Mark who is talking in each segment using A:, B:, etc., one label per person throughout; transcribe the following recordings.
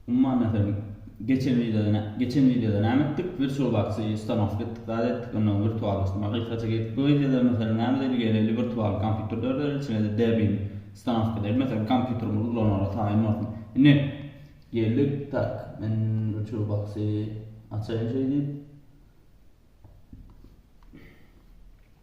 A: Umman meselem geçen wideoda geçen wideoda näme etdik? Virtual boxy ustanowka etdik, zat etdik, ondan wirtuallaşdyrmak gysgaça geçdik. Bu wideoda meselem näme edeli? Geleli wirtual kompýuter döredeli, içine-de Debian ustanowka edeli. Meselem kompýuterimizi ulanaly taýyn bolsun. Indi geldik, tak, men virtual boxy açaýyn şeýdip.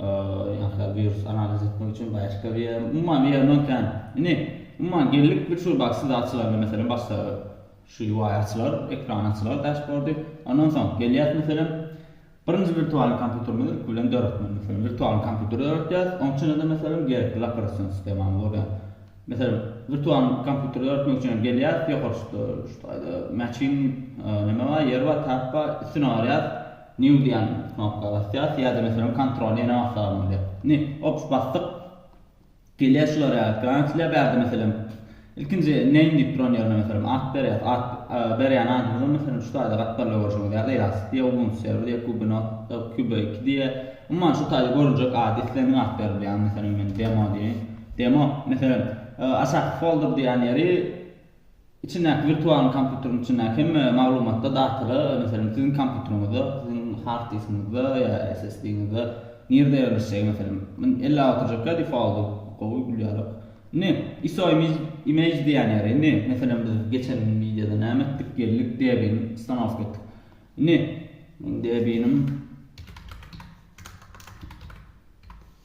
A: Ýa-da wirus analiz etmek üçin başga bir ýer, umuman bir ýerden kän. Indi, umuman geldik bir şu baksy zat açylanda meselem başda şu UI açylar, ekran açylar dashboardy. Ondan soň gelýäs meselem birinji wirtualny kompýuterimizi ilki bilen döretmeli. Meselem wirtualny kompýuter döretýäs, oň içinde-de meselem gerekli operasiýon sistemamyz bolýar. Meselem wirtualny kompýuter döretmek üçin hem gelýäs, ýokarda şu taýda machine neme bar, ýer bar, tab bar, üstüne barýas. New diýen knopka basýas ýa-da meselem kontrol ýene bassagam bolýar. Indi ops basdyk. Gelýär şular ýaly ekran açylýar bärde meselem. Ilkinji name diýip duran ýerine meselem at berýas. At berýän adymyzam meselem şu taýda gatlarlar görşüňiz ýaly ýaz. Diýe ubuntu serwer diýe kubinot kube iki diýe. Umuman şu taýda görünjek ady islendik at berip bilýäňiz. Meselem men demo diýeýin. Demo meselem aşaky folder diýen ýeri Içindäki wirtualny kompýuteriň içindäki hemme maglumatda datala, meselem, siziň kompýuteriňizde, siziň hard diskiňizde ýa SSD-ňizde nirde ýerleşjegi, meselem, men ellap oturjakka defaulty gowy bilýärok. Indi iso image image diýýän ýeri, indi, meselem, biz geçen wideoda näme etdik, geldik debini ustanowka etdik. Indi, meň debinim.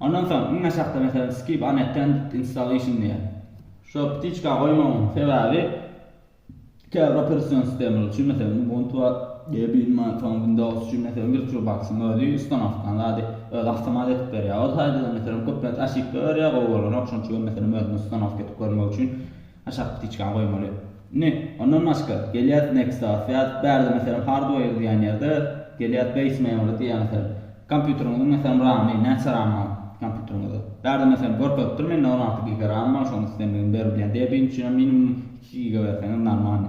A: Ondan soň iň aşakda meselem skip unattended installation diýýär. Şo ptiçka goýmagyň sebäbi käbir operation sistemalar üçin meselem ubuntu we debian we soň windows üçin meselem virtualboxyň özi ustanowkan zady özi awtomat edip berýär. O taýda-da meselem köplenç oşipka berýär gowy bolanok şoň üçin hem meselem özüme ustanowka edip görmek üçin Aşak ptiçkany goýmaly. Indi, ondan başga, gelýäs Nexus ýa bärde meselem hardware diýen ýerde, gelýäs base memory diýýär meselem. Kompýuteriňiziň meselem ramy, näçe ram bar kompýuteriňizde? Bärde meselem görkezip dur mende on alty giga ram bar, şony islendigini ber diýýär. Debian üçinem minimum iki giga berseňiz normalny.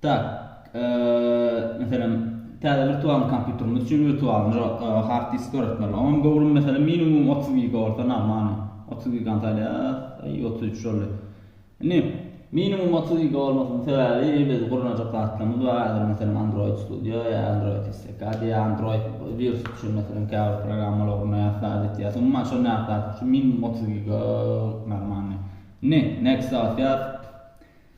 A: Tak, meselem, täze wirtualny kompýuterimiz üçin wirtualny hard disk döretmeli. Onuň göwrümi, meselem, minimum otuz giga bolsa normalny. Otuz gigany saýlaýarys. Aý, otuz üç boldy. Indi, minimum otuz giga bolmasynyň sebäbi, biz gurnajak zatlarymyz bar. Häzir, meselem, Android Studio ýa Android SDK diýýär. Android wirus üçin, meselem, käbir programmalary gurnaýarys, zat etýäris. Umuman, şol nädip zat üçin minimum otuz giga normalny. Indi, next basyýas.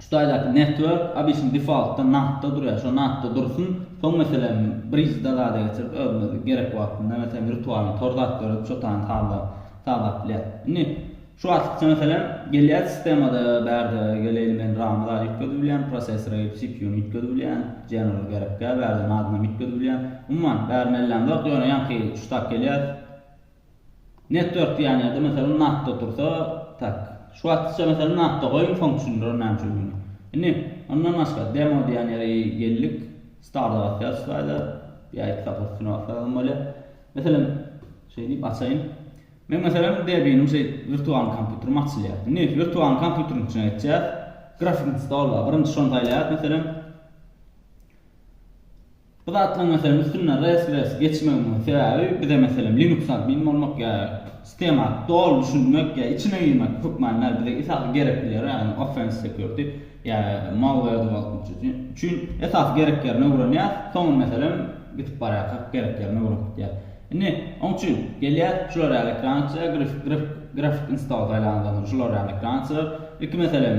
A: Şu taýdaky network abysyn defaultda natda durýar şo natda dursun soň meselem bridge da zada geçirip özüňiz gerek wagtynda meselem virtualny tor zat döredip şo tany sazlap sazlap bilýäs. Indi şu artykça meselem gelýär sistemada bärde geleýli men ramy zada üýtgedip bilýän prosessora gidip cpu ny üýtgedip bilýän general gerekkä bärdem adynam üýtgedip bilýän umuman bäri mellem zok ýöne ýaňky şu tak gelýär Net dört ýanýada meselem nafta tursa tak. Şu wagtça meselem nafta goýuň soň düşündirerin näme üçin öňe. Indi ondan başga demo diýen ýere geldik. Starda basýarys slaýda. Ýa iki sapar üstüne basýarysam bolýar. Meselem şeýdip açaýyn. Men meselem debinim şeý wirtualny kompýuterim açylýar. Indi wirtualny kompýuteriň içine geçýäs. Grafik stol bar. Birinji şony saýlaýas meselem. Bu zatlaryň meselem üstünden res res geçmegimiň sebäbi bize meselem linux admin bolmak ýa sistema doly düşünmek ýa içine girmek hökman däl bize esasy gerek ýeri ýagny offense security ýa malware development üçin esasy gerek ýerini öwrenýäs soňra meselem gitip barýarkak gerek ýerini öwrenip gidýäs indi oň üçin gelýäs şular ýaly ekran açýas grafik install saýlandan soň şular ýaly ekran açylar ilki meselem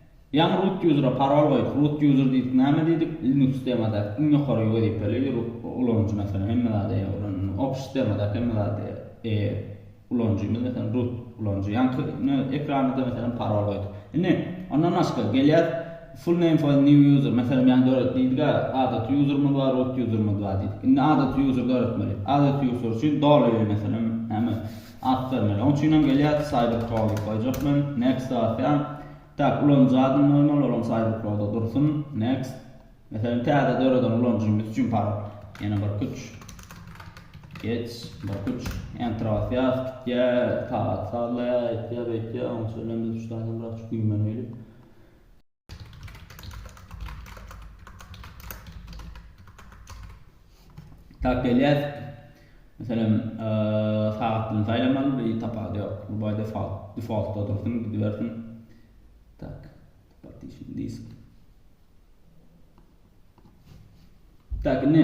A: Ýaňy root user-a parol goýup, root user diýdik, näme diýdik, Linux sistemadaky iň ýokary wezipeli ulanyjy meselem hemme zada eýe ulanyjy, Office sistemadaky hemme zada eýe ulanyjymyz meselem root ulanyjy, ýaňky ekranymyzda meselem parol goýduk. Indi ondan başga gelýäs, full name for a new user, meselem ýaňy döret diýdik-ä, adaty userymyz bar, root userymyz bar diýdik. Indi adaty user döretmeli. Adaty user üçin doly meselem näme, At bermeli. Oň üçinem gelýär Cyber Pro diýip goýjak men. Next basýan. Tak, ulanyjy adyny goýmaly, olam Cyber Pro-da dursun. Next. Meselem, täze döreden ulanyjymyz üçin parol. Ýene bir kuç. Geç, bir kuç. Enter basýas, gitýär, sagat sazlaýar, aýtýar, beýtýär. Oň üçinem biz üçtäsem biraz güýmenelilik. Tap gelýär. Meselem, sagatdan saýlamaly, bir tapady ýok. Bu baý default, defaultda dursun, gidibersin. Tak, partition disk. Tak, ne?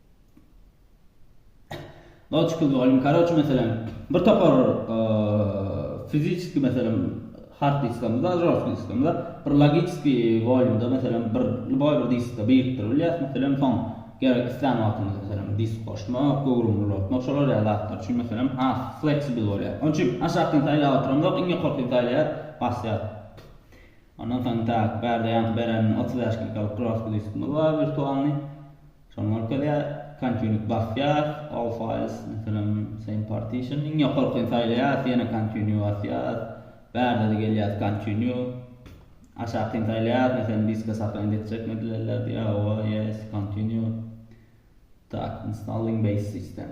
A: Logical volume, karoç meselem bir topar fiziçki meselem hard diskamyzda, žorstky diskamyzda, bir logiçki volýumda meselem bir luboý bir diskde birikdirip bilýäs, meselem soň gerek islän wagtymyz meselem disk goşmak, göwrümiň ulaltmak şolar ýaly zatlar üçin meselem has flexible bolýar. Onuň üçin aşakkyny saýlap oturamzok, iň ýokarkyny saýlaýar, basýas. Ondan soň tak bärde ýaňky beren otuz bäş gigalyk žorstky diskimiz bar wirtualnyý. Şonuň arkaly ýa continue basýas, all files meselem same partition iň ýokarkyny saýlaýas ýene continue basýas, bärde-de gelýäs continue, aşakyny saýlaýas meselem diske sahland etjek mi edilenler diýýä hawa yes continue tak installing base system.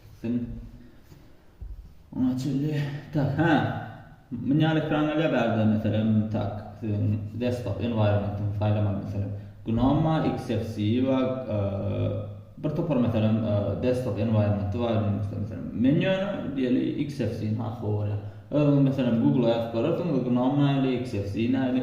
A: Gitsin. Oňa çenli tak hä. Mün ýaly ekranlar ýa bärde meselem tak siziň desktop environmentyňy saýlamak meselem GNOME bar, XFC bar, bir topar meselem desktop environmenty bar Linuxda meselem. Men ýöne diýeli XFC-ni has gowy görýän. Özüňiz meselem Google-a ýazyp görersiňiz GNOME nähili, XFC nähili.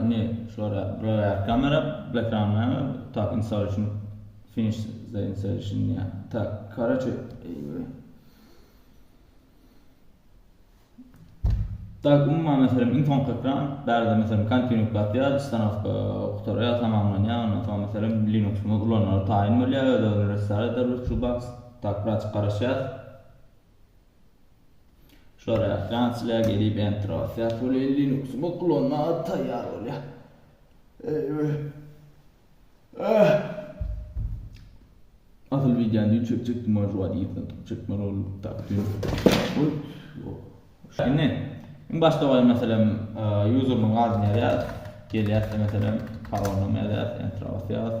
A: Indi şulara buralar kamera ekranlar tak installation finish the installation diýýär. Tak, karaçe Tak, umuman meselem iň soňky ekran, bärde meselem continue basýar, ustanowka gutarýar, tamamlanýar, ondan soň meselem Linux-ymy ulanmaga taýyn bolýar, öz-özüni restart eder VirtualBox. Tak, birazjyk garaşýas. Şulara Fransiýa gelip entro syýat bolýar Linux bot ulanmaga taýýar bolýar. Eýwe. Ah. Asyl wideony düýn çekjekdim bar wagt ýetmedi. Çekme rol tapdym. Oý. Şeýne. Iň başda goýan meselem usermyň adyny ýazýar. Gelýär meselem parolny ýazýar entro syýat.